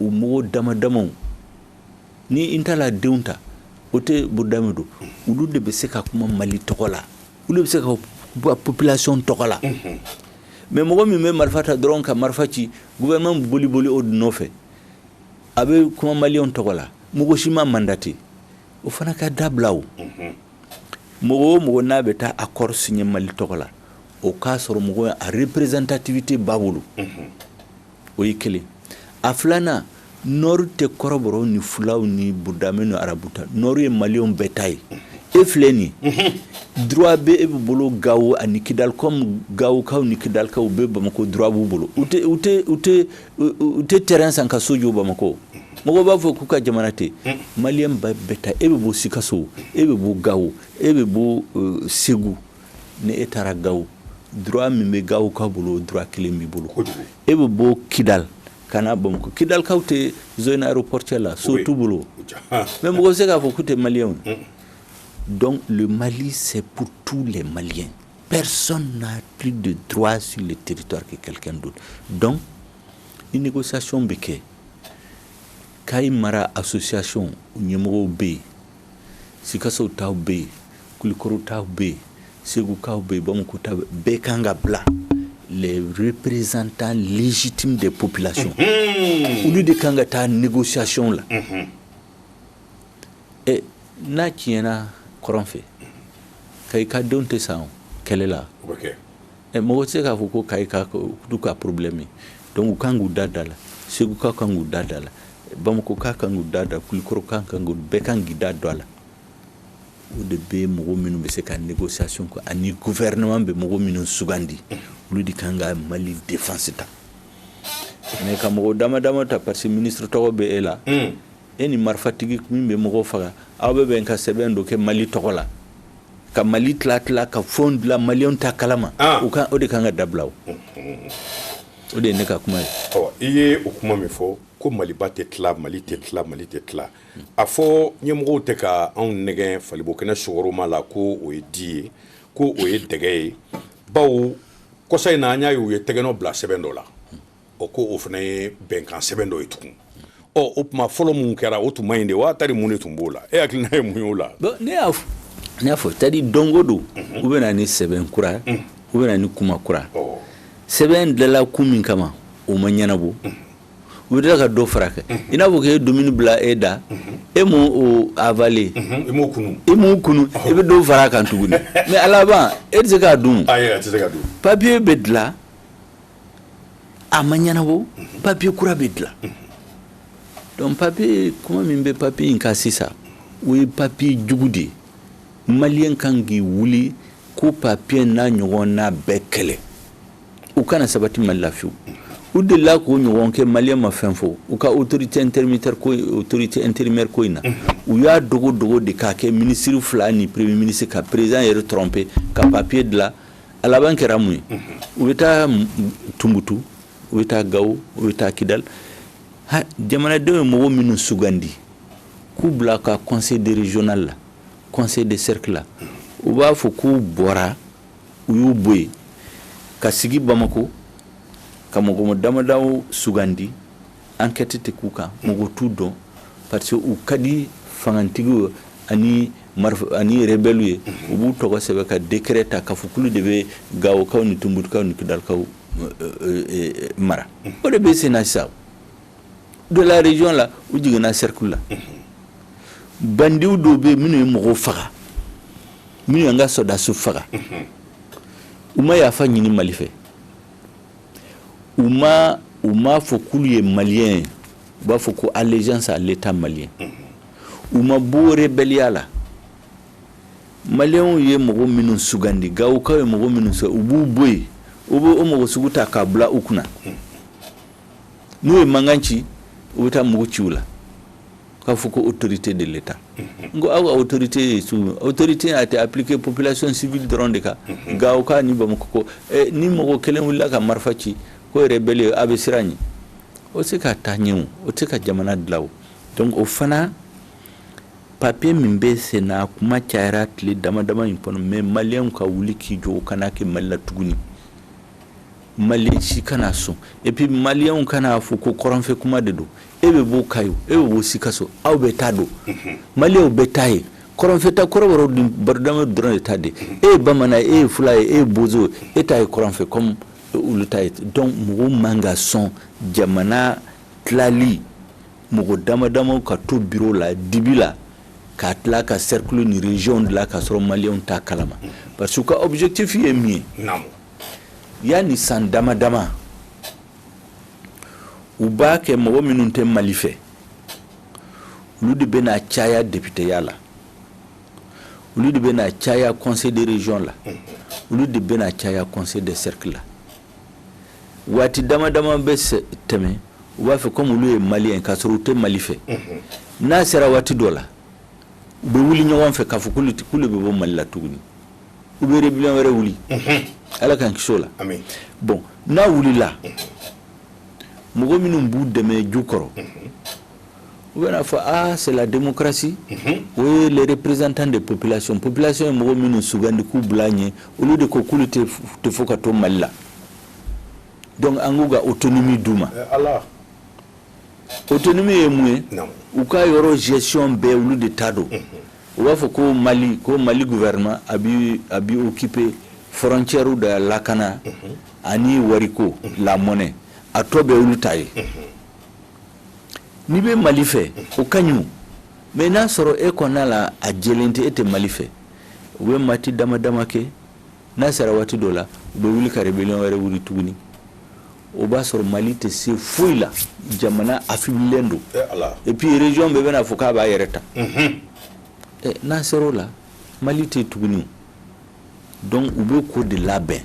u mɔgɔw dama damaw ni Intala denw ta o tɛ burudamɛ don olu de bɛ se ka kuma mali tɔgɔ la olu bɛ se ka population tɔgɔ la mais mɔgɔ min bɛ marifa ta dɔrɔn ka marifa ci gouvernement boli boli olu nɔfɛ a bɛ kuma mali tɔgɔ la mɔgɔ si m'a mandaté o fana ka dabila o mɔgɔ o mɔgɔ n'a bɛ taa accord signé mali tɔgɔ la o k'a sɔrɔ mɔgɔ a représentativité b'a bolo o ye kelen a filanan Nord tɛ kɔrɔbɔrɔw ni fulaw ni burudamɛw ni arabu ta Nord ye maliyɛnw bɛɛ ta ye e filɛ nin droit bɛ e bɛ bolo gawo ani kidali kɔmi gawokaw ni kidalikaw u bɛ bamakɔ droit b'u bolo u tɛ terrain san ka so jɔ bamakɔ mɔgɔ b'a fɔ k'u ka jamana tɛ maliyɛn bɛɛ ta e bɛ bɔ sikaso e bɛ bɔ gawo e bɛ bɔ segu ni e taara gawo droit min bɛ gawokaw bolo droit kelen b'i bolo e bɛ bɔ kidali ka na bamakɔ kidalikaw tɛ zone aéroportuaire la so t'u bolo mais mɔgɔ bɛ se k'a fɔ k'u tɛ maliyɛnw donc le Mali c'est pour tous les Maliens personne n'a plus de droit sur le territoire que quelqu'un d'autre donc ni négociation bɛ kɛ Kayi mara association ɲɛmɔgɔw bɛ yen sikaso taw bɛ yen kulikɔrɔ taw bɛ yen segukaw bɛ yen bamakɔ taw bɛ yen bɛɛ ka kan ka bila les représentants légitimes des populations olu de ka kan ka taa négociation la ɛ n'a tiɲɛna kɔrɔn fɛ kayika denw tɛ sa o kɛlɛ la o bɛ kɛ Ɛ mɔgɔ tɛ se k'a fɔ ko Kayikaw ka problème ye donc u ka kan k'u da don a la, Segukaw ka kan k'u da don a la, Bamakɔ ka kan k'u da don a la, Kulikɔrɔ ka kan k'u bɛɛ ka kan k'i da don a la, o de bɛ mɔgɔ minnu bɛ se ka négociation kɛ ani gouvernement bɛ mɔgɔ minnu sugandi olu de ka kan ka Mali défense ta mais ka mɔgɔ dama dama ta parce que ministre tɔgɔ bɛ e la e ni marifatigi min bɛ mɔgɔw faga aw bɛ bɛn ka sɛbɛn dɔ kɛ mali tɔgɔ la ka mali tila tila ka fɛn dilan maliyɛnw t'a kalama ah. u o de kan ka dabila o de ye ne ka kuma ye i ye o kuma min fɔ ko maliba tɛ tila mali tɛ tila mali tɛ tila a fɔ ɲɛmɔgɔw tɛ ka anw nɛgɛn fali bo kɛnɛ sukaroma la ko o ye di ye ko o ye dɛgɛ ye bawo kɔsa in na an y'a ye u ye tɛgɛnɔ bila sɛbɛn dɔ la o ko o fana ye bɛnkan sɛbɛn dɔ ye tugun ɔ o tuma fɔlɔ min kɛra o tun man ɲi de wa tari mun de tun b'o la e hakilina ye mun y'o la ne y'a n y'a fɔ c'est-à-dire don go don mhm. u bɛ na ni sɛbɛn kura mhm. u bɛ na ni kuma kura sɛbɛn dilanla kun min kama o ma ɲɛnabɔ mhm. u bɛ ka dɔ fara kɛ i n'a fɔ k'e dumuni bila e da e m'o o avaler i m'o kunu i m'o kunu i bɛ dɔ fara kan tuguni mais a laban e tɛ se k'a dun papiye bɛ dilan a ma ɲɛnabɔ papiye kura bɛ dilan donc papiye kuma min bɛ papiye in kan sisan o ye papiye jugu de ye maliyɛn kan k'i wuli k'o papiye n'a ɲɔgɔnna bɛɛ kɛlɛ u kana sabati mali la fewu u delila k'o ɲɔgɔn kɛ maliyɛn ma fɛn fɔ u ka autorité intérimaire ko in na u y'a dogo dogo de k'a kɛ minisiri fila ni premier ministre ka président yɛrɛ tromper ka papiye dilan a laban kɛra mun ye u bɛ taa tunbutu u bɛ taa gawo u bɛ taa kidal jamanadenw ye mɔgɔ minnu sugandi k'u bila ka conseil de régional la conseil de cercle la u b'a fɔ k'u bɔra u y'u bɔ yen ka sigi bamakɔ ka mɔgɔ damadaw sugandi ankɛti tɛ k'u kan mɔgɔ t'u dɔn parce que u ka di fangatigiw ani ani rebelle ye u b'u tɔgɔ sɛbɛn ka décret ta k'a fɔ k'olu de bɛ gawokaw ni tunbutukaw ni kidalikaw mara o de bɛ sen na sisan de la région la u jiginna cercle la bandiw dɔw bɛ minnu ye mɔgɔw faga minnu y'an ka sɔrɔdasiw faga u ma yafa ɲini mali fɛ u ma u m'a fɔ k'olu ye maliyɛn ye u b'a fɔ ko allégeance à l'État malien u ma bɔ rebelliya la maliyɛnw ye mɔgɔ minnu sugandi gawokaw ye mɔgɔ minnu sugandi u b'u bɔ yen u b'o mɔgɔ sugu ta k'a bila u kunna n'u ye mankan ci u bɛ taa mugu ci u la k'a fɔ ko autorité de l'État n ko aw ka autorité ye su min autorité a été appliquée population civile dɔrɔn de kan Gawokaw ni Bamakɔkaw eh, ni mɔgɔ kelen wulila ka marifa ci ko rebelle a bɛ siran ɲɛ o tɛ se ka taa ɲɛ o o tɛ se ka jamana dilan o donc o fana papier min bɛ sen na a kuma cayara tile dama dama in kɔnɔ mais maliyɛnw ka wuli k'i jɔ o kana kɛ mali la tuguni Maliyɛn si kana sɔn et puis maliyɛnw kan'a fɔ ko kɔrɔnfɛ kuma de don e bɛ bɔ Kayi e bɛ bɔ Sikaso aw bɛɛ ta don maliyɛnw bɛɛ ta ye kɔrɔnfɛ ta kɔrɔbɔrɔ ni burudamɛ dɔrɔn de ta tɛ e ye bamanan e ye fula ye e ye bozo e ta ye kɔrɔnfɛ kɔmi olu ta ye donc mɔgɔw man ka sɔn jamana tilali mɔgɔ dama dama ka to biro la dibi la ka tila ka cercle ni région dilan k ka sɔrɔ maliyɛnw t'a kalama parce que ka objectif ye min ye yani san dama dama u b'a kɛ mɔgɔ minnu tɛ mali fɛ olu de bɛna caya depiteya la olu de bɛna caya conseil de région la olu de bɛna caya conseil de cercle la waati dama dama bɛ tɛmɛ u b'a fɛ komi olu ye maliyɛn k'a sɔrɔ u tɛ mali fɛ n'a sera waati dɔ la u bɛ wuli ɲɔgɔn fɛ k'a fɔ k'olu bɛ bɔ mali la tuguni u bɛ rébellion wɛrɛ wuli ala k'an kisi o la bon n'a wulila mɔgɔ minnu b'u dɛmɛ ju kɔrɔ u bɛn'a fɔ aa c'est la démocratie o ye les représentants de population population ye mɔgɔ minnu sugandi k'u bila ɲɛ olu de ko k'olu t'a fɛ ka to mali la donc an k'u ka autonomie d'u ma autonomie ye mun ye u ka yɔrɔ gestion bɛɛ olu de ta don u b'a fɔ ko mali ko mali gouvernement a bi a bi occuper frontières da lakana mhm. ani wariko mhm. la monnaie a tɔ bɛɛ olu ta ye mhm. n'i bɛ mali fɛ o ka ɲi mais n'a sɔrɔ e kɔnɔna la a jɛlen tɛ e tɛ mali fɛ u bɛ waati dama dama kɛ N'a sera waati dɔ la u bɛ wuli ka rébellion wɛrɛ wuli tuguni o b'a sɔrɔ Mali tɛ se foyi la jamana affaiblilen don et puis région bɛɛ bɛna fɔ k'a b'a yɛrɛ ta n'a sera o la Mali tɛ yen tuguni donc u bɛ k'o de labɛn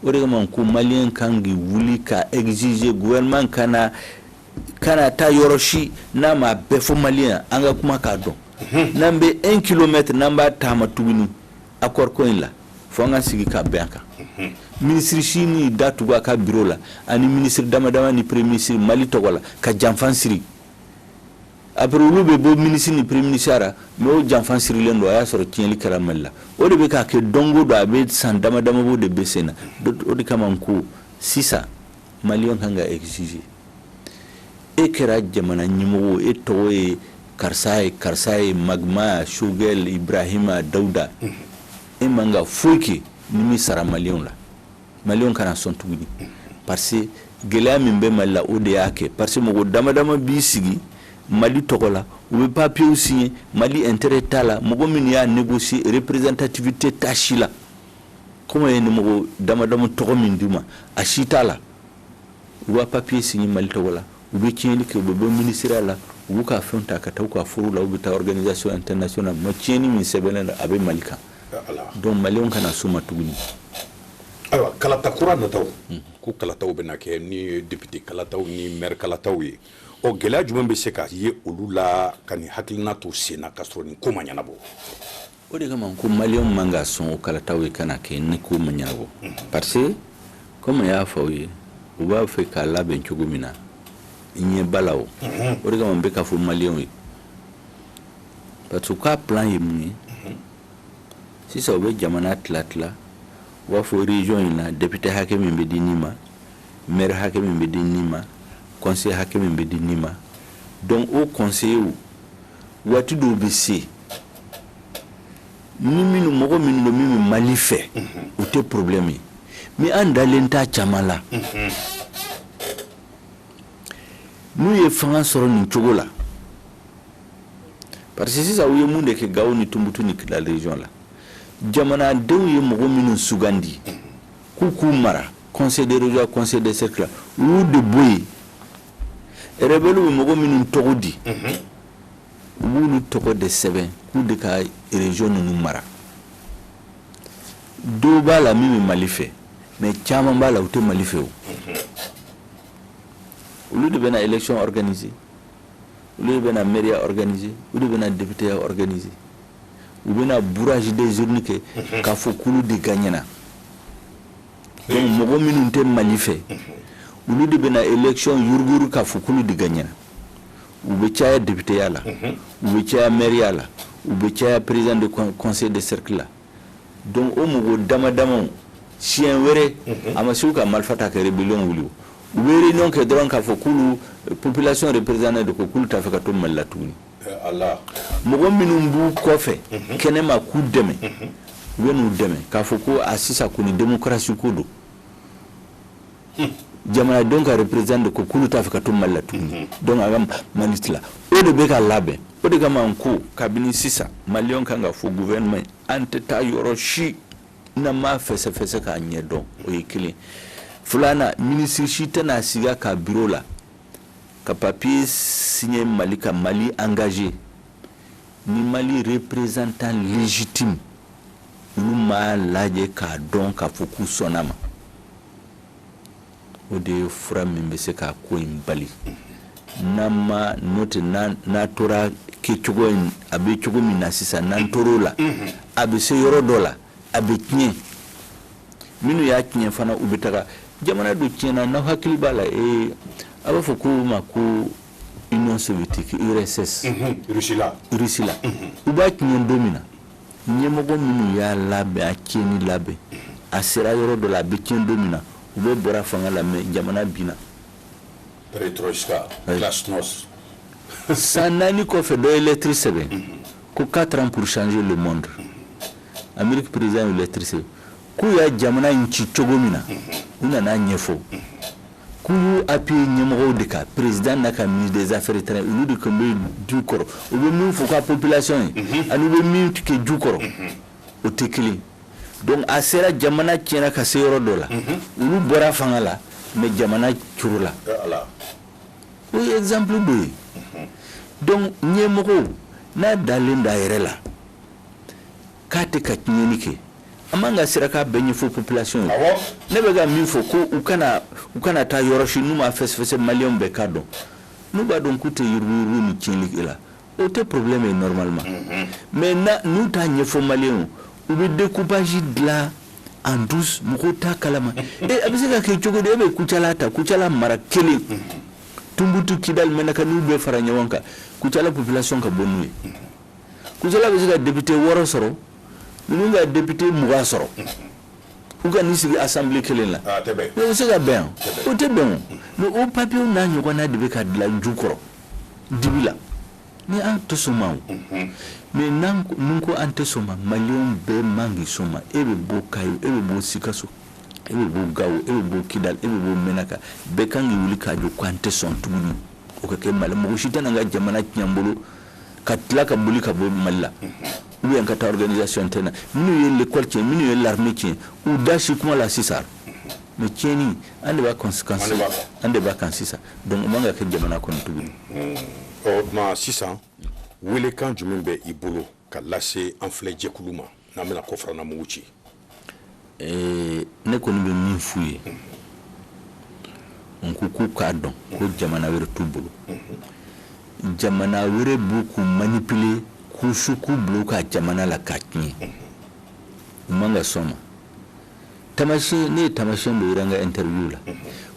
o de kama ko Maliyɛn ka kan k'i wuli ka exiger gouvernement kana kana taa yɔrɔ si n'a m'a bɛɛ fɔ Maliyɛn an ka kuma k'a dɔn n'an bɛ un kilomètre n'an b'a taama tuguni Accord ko in la, fo an ka sigi ka bɛn a kan. Unhun. Minisiri si ni da tugu a ka bureau la ani minisiri dama dama ni premier minisiri Mali tɔgɔ la ka janfan siri. Après olu bɛ bɔ minisiri ni premier minisiriya ra mais o janfan sirilen don, a y'a sɔrɔ tiɲɛli kɛra Mali la. O de bɛ ka kɛ don o don a bɛ san dama dama bɔ o de bɛ sen na. O de kama n ko sisan maliyɛnw ka kan ka exiger. e kɛra jamana ɲɛmɔgɔ e tɔgɔ ye karisa ye karisa ye mama choguel ibrahima dawuda e man ka foyi kɛ n'i m'i sara maliyɛnw la maliyɛnw kana sɔn tuguni parce que gɛlɛya min bɛ mali la o de y'a kɛ parce que mɔgɔ damadama b'i sigi mali tɔgɔ la u bɛ papiyew signer mali intérêt t'a la mɔgɔ min y'a négocier représentativité t'a si la kɔmi ye ni mɔgɔ damadama tɔgɔ min d'u ma a si t'a la u b'a papiye signer mali tɔgɔ la u bɛ tiɲɛnli kɛ u bɛ bɔ minisiriya la u b'u ka fɛn ta ka taa u ka foro la u bɛ taa organisation internationale ma tiɲɛni min sɛbɛnnen don a bɛ mali kan donc malienw kana s'o ma tuguni ayiwa kalata kura nataw ko kalataw bɛna kɛ ni député kalataw ni maire kalataw ye ɔ gɛlɛya jumɛn bɛ se ka ye olu la ka nin hakilina to sen na ka sɔrɔ nin ko ma ɲɛnabɔ o de kama ko maliyɛnw man ka sɔn o kalataw ye ka kɛ ni ko ma ɲɛnabɔ parce que kɔmi y'a fɔ aw ye u b'a fɛ k'a labɛn cogo min na ɲɛ b'a la o o de kama n bɛ k'a fɔ maliyɛnw ye parce que u ka plan ye mun ye sisan u bɛ jamana tila tila u b'a fɔ région in na député hakɛ min bɛ di nin ma maire hakɛ min bɛ di nin ma conseiller hakɛ min bɛ di nin ma donc o conseiller waati dɔw bɛ se ni minnu mɔgɔ minnu don min bɛ mali fɛ u tɛ problème ye mais an dalen t'a caman la n'u ye fanga sɔrɔ nin cogo la parce que sisan u ye mun de kɛ gawo ni tumutu ni kidal région la jamanadenw ye mɔgɔ minnu sugandi k'u k'u mara conseil de région conseil de cercle u y'u de bɔ yen rebelles bɛ mɔgɔ minnu tɔgɔ di u b'olu tɔgɔ de sɛbɛn k'u de ka région ninnu mara dɔw b'a la min bɛ Mali fɛ mais caman b'a la u tɛ Mali fɛ o olu de bɛna élection organiser olu de bɛna maireya organiser olu de bɛna députéya organiser u bɛna bourrage des urnes kɛ k'a fɔ k'olu de gagnera donc mɔgɔ minnu tɛ mali fɛ olu de bɛna élection yuruguyurugu k'a fɔ k'olu de gagnera u bɛ caya députéya la u bɛ caya maireya la u bɛ caya président de conseil de cercle la donc o mɔgɔ dama damaw siɲɛ wɛrɛ a ma se u ka marifa ta ka rébellion wuli u bɛ réunion kɛ dɔrɔn k'a fɔ k'olu population représentée don ko k'olu t'a fɛ ka to mali la tuguni mɔgɔ minnu b'u kɔfɛ mhm. kɛnɛma k'u dɛmɛ mhm. u bɛn'u dɛmɛ k'a fɔ ko a sisan kɔni demokarasi ko don hmm. jamanadenw ka représentant de ko k'olu t'a fɛ ka to mali la tuguni mhm. donc a ka mali tila o de bɛ ka labɛn o de kama n ko kabini sisan maliyɛnw kan k'a fɔ gouvernement an tɛ taa yɔrɔ si n'an m'a fɛsɛfɛsɛ k'a ɲɛ dɔn o ye kelen filanan minisiri si tɛna sigi a ka biro la ka papier signer Mali ka Mali engager ni Mali représentant légitime olu m'a lajɛ k'a dɔn k'a fɔ k'u sɔnn'a ma o de ye fura min bɛ se ka ko in bali n'an ma n'o tɛ n'a tora kɛcogo in a bɛ cogo min na sisan n'an tor'o la a bɛ se yɔrɔ dɔ la. a bɛ tiɲɛ minnu y'a tiɲɛ fana u bɛ taga jamana dɔ tiɲɛna n'aw hakili b'a la ee a b'a fɔ ko o ma ko union soviétique URSS mhm, Russie la Russie la mhm. u b'a tiɲɛ don min na ɲɛmɔgɔ minnu y'a labɛn a tiɲɛni labɛn a sera yɔrɔ dɔ la a bɛ tiɲɛ don min na u bɛɛ bɔra fanga la mais jamana binna perestroïka glasnost san naani kɔfɛ dɔ ye lɛtiri sɛbɛn mhm. ko 4 ans pour changer le monde Amérique président ye lettre sɛbɛn k'u y'a jamana in ci cogo min na u nan'a ɲɛfɔ k'u y'u appuyer ɲɛmɔgɔw de kan président n'a ka ministre des affaires étrangères olu de tun bɛ du kɔrɔ u bɛ min fɔ ka population ye ani u bɛ min kɛ du kɔrɔ o tɛ kelen donc a sera jamana tiɲɛna ka se yɔrɔ dɔ la olu bɔra fanga la mais jamana curula O ye exemple dɔ ye donc ɲɛmɔgɔw n'a dalen d'a yɛrɛ la k'a tɛ ka tiɲɛni kɛ a man ka siran k'a bɛɛ ɲɛfɔ population ye ne bɛ ka min fɔ ko u kana u kana taa yɔrɔ si n'u m'a fɛsɛfɛsɛ maliyɛnw bɛɛ k'a dɔn n'u b'a dɔn k'u tɛ yuruguyurugu ni tiɲɛni kɛ la O tɛ problème ye normalement mais n'u t'a ɲɛfɔ maliyɛnw u bɛ découpage dilan en douce mɔgɔw t'a kalama a bɛ se ka kɛ cogo di e bɛ kucala ta kucala mara kelen tumutu kidal menaka n'u bɛɛ fara ɲɔgɔn kan kucala population ka bon n'u ye kucala bɛ se ka député wɔɔrɔ sɔrɔ ninnu ka député mugan sɔrɔ u ka n'i sigi assemblée kelen la o bɛ se ka bɛn o tɛ bɛn o papier n'a ɲɔgɔnna de bɛ ka dilan du kɔrɔ dibi la ni an tɛ sɔn ma mais n'an ko an tɛ sɔn ma maliyɛnw bɛɛ man k'i sɔn ma e bɛ bɔ kayi e bɛ bɔ sikaso e bɛ bɔ gawo e bɛ bɔ kidal e bɛ bɔ menaka bɛɛ kan k'i wuli k'a jɔ ko an tɛ sɔn tuguni o ka kɛ mali mɔgɔ si tɛ ka jamana tiɲɛ an bolo ka tila ka boli ka bɔ mali la ou bien ka taa organisation tɛna minnu ye lekɔli tiɲɛ minnu ye l'armée tiɲɛ u da si kuma la sisan mais tiɲɛni an de b'a an de b'a kan sisan donc o man ka kɛ jamana kɔnɔ tuguni ɔ tuma sisan welekan jumɛn bɛ i bolo ka lase an filɛ jɛkulu ma n'an bɛna kɔfarana mugu ci eh, ne kɔni bɛ min f'u ye n ko k'u k'a dɔn ko jamana wɛrɛ t'u bolo jamana wɛrɛ b'u k'u manipuler k'u su k'u bila u ka jamana la k'a tiɲɛ u man ka sɔn ma tamasiyɛn ne ye tamasiyɛn dɔ yira n ka interview la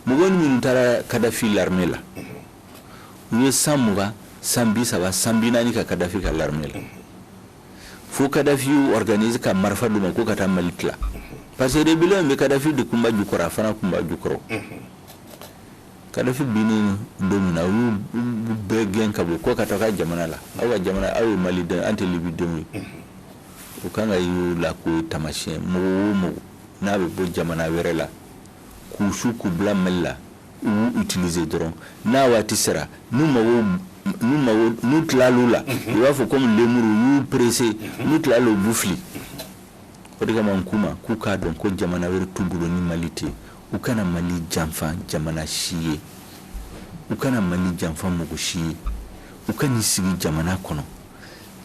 mɔgɔ minnu taara kadafi l'armée la u ye san mugan san bi saba san bi naani kɛ kadafi ka l'armée la fo kadafi y'u organiser ka marifa d'u ma k'u ka taa mali tila parce que rébellion in bɛ kadafi de kunba jukɔrɔ a fana kunba jukɔrɔ kadafi binnen don min na u y'u bɛɛ gɛn ka bɔ k'u ka taa u ka jamana la aw ka jamana aw ye mali den an tɛ libi denw ye u kan k'a y'o la k'o ye tamasiyɛn mɔgɔ o mɔgɔ n'a bɛ bɔ jamana wɛrɛ la k'u su k'u bila mali la u y'u utiliser dɔrɔn n'a waati sera n'u mago n'u mago n'u tilal'u la i b'a fɔ komi lemuru u y'u presser n'u tilal'u b'u fili o de kama n k'u ma k'u k'a dɔn ko jamana wɛrɛ t'u bolo ni mali tɛ u kana mali janfa jamana si ye u kana mali janfa mɔgɔ si ye u ka n'i sigi jamana kɔnɔ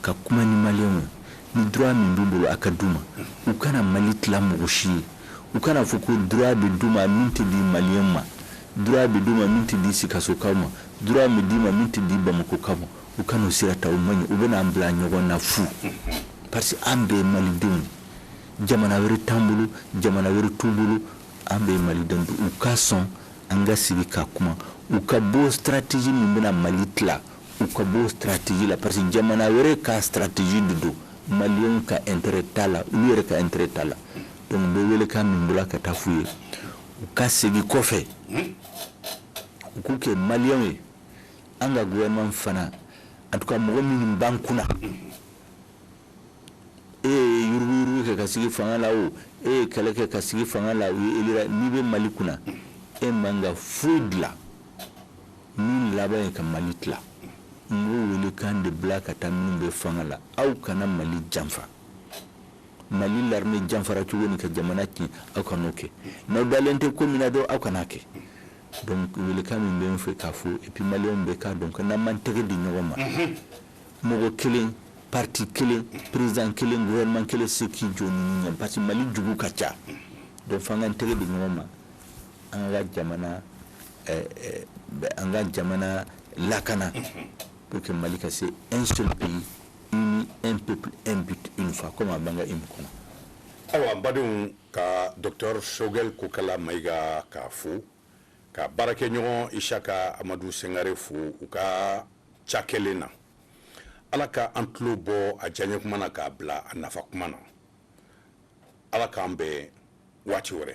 ka kuma ni maliyɛnw ye ni droit min b'u bolo a ka d'u ma u kana mali tila mɔgɔ si ye u kana fɔ ko droit bɛ d'u ma min tɛ di maliyɛn ma droit bɛ d'u ma min tɛ di sikasokaw ma droit bɛ d'i ma min tɛ di bamakokaw ma u kana o sira ta o man ɲi o bɛna an bila ɲɔgɔn na fu parce que an bɛɛ malidenw jamana wɛrɛ t'an bolo jamana wɛrɛ t'u bolo an bɛɛ maliden don u ka sɔn an ka sigi ka kuma u ka bɔ stratégie min bɛna mali tila u ka bɔ stratégie la parce que jamana wɛrɛ ka stratégie de don maliyɛnw ka intérêt t'a la olu yɛrɛ ka intérêt t'a la donc n bɛ welekan min bila ka taa f'u ye u ka segin kɔfɛ u k'u kɛ maliyɛnw ye an ka gouvernement fana en tout cas mɔgɔ minnu b'an kunna e ye yuruguyurugu kɛ ka sigi fanga la o e ye kɛlɛ kɛ ka sigi fanga la o e elira n'i bɛ mali kunna e man ka foyi dilan min laban ye ka mali tila n b'o welekan de bila ka taa minnu bɛ fanga la aw kana mali janfa mali l'armée janfara cogo min ka jamana tiɲɛ aw kana o kɛ n'aw dalen tɛ ko min na dɔrɔn aw kan'a kɛ welekan min bɛ fɛ k'a fɔ et puis maliyɛnw bɛɛ k'a dɔn ko n'an m'an tɛgɛ di ɲɔgɔn ma mɔgɔ kelen parti kelen président kelen gouvernement kelen tɛ se k'i jɔ a ɲɛ parce que mali jugu ka ca donc f'an k'an tɛgɛ di ɲɔgɔn ma an ka jamana an ka jamana lakana pour que mali ka se un seul pays uni un peuple un but une foi comme a b'an ka hymne kɔnɔ awa an badenw ka docteur sogɛl kokala mayiga k'a fo k'a baarakɛɲɔgɔn isaka amadu sengare fo u ka cakɛlen na ala ka an tulo bɔ a diyaɲɛ kuma na k'a bila a nafa kuma na ala k'an bɛn waati wɛrɛ